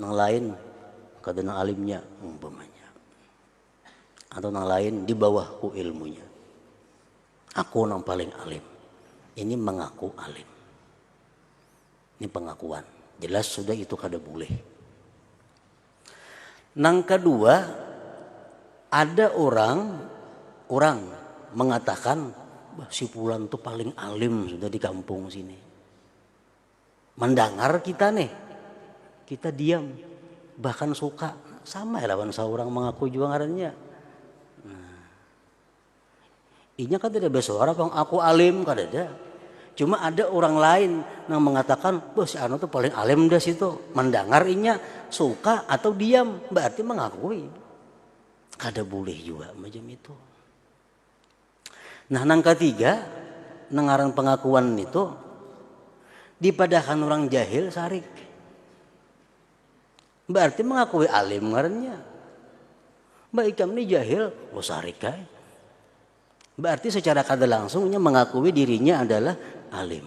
nang lain kada nang alimnya umpamanya atau nang lain di bawahku ilmunya aku nang paling alim ini mengaku alim ini pengakuan jelas sudah itu kada boleh nang kedua ada orang orang mengatakan si pulan tuh paling alim sudah di kampung sini mandangar kita nih kita diam bahkan suka sama ya lawan seorang mengaku juga ngarannya nah, inya kan tidak bersuara bang aku alim kan ada cuma ada orang lain yang mengatakan wah si Anu tuh paling alim dah situ mendengar inya suka atau diam berarti mengakui kada boleh juga macam itu Nah nang katiga, nang ngaran pengakuan nitu dipadahakan urang jahil sarik. Baarti mengakui alim ngarannya. Mbak ikam ni jahil, oh sarik ai. Berarti secara kada langsungnya mengakui dirinya adalah alim.